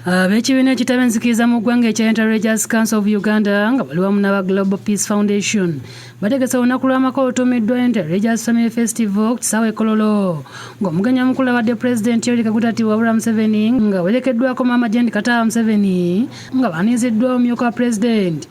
ab'ekibiina ah, ekitaba enzikiriza mu ggwanga ekya interreligious council of uganda nga bali wamu n'aba global peace foundation bategese olunaku lw'amaka olutuumiddwa interreligious family festival ku kisaawa ekololo ng'omugenyi omukulu abadde pulezidenti yoweri kaguta tiwabula museveni nga werekeddwako maama jendi kataba museveni nga baaniiziddwa omumyuka wa pulezidenti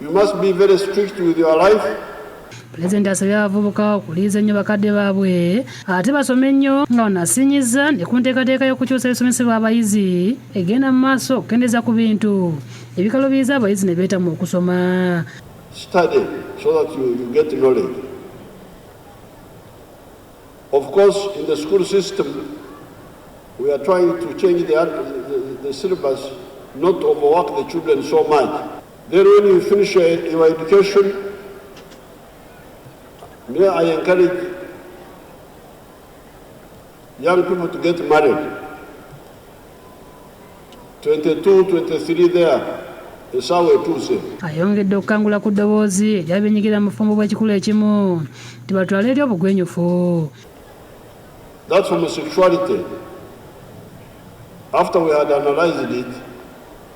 You must be very strict with your life. Pulezidenti asabye abavubuka okuliiza ennyo bakadde baabwe ate basome nnyo nga wanasinyiza ne ku nteekateeka y'okukyusa ebisomesebwa abayizi egenda mu maaso okukendeeza ku bintu ebikalubiiza abayizi ne beetamwa okusoma study so that you, you get knowledge of course in the school system we are trying to change the, the, the syllabus not overwork the children so much Then when you finish your, your education, me, I encourage young people to get married. 22, 23 there. esaawa etuuse ayongedde okukangula ku ddoboozi eryabinyigira mu bufumbo bw'ekikulu ekimu nti batwala eri obugwenyufu That's homosexuality. After we had analyzed it,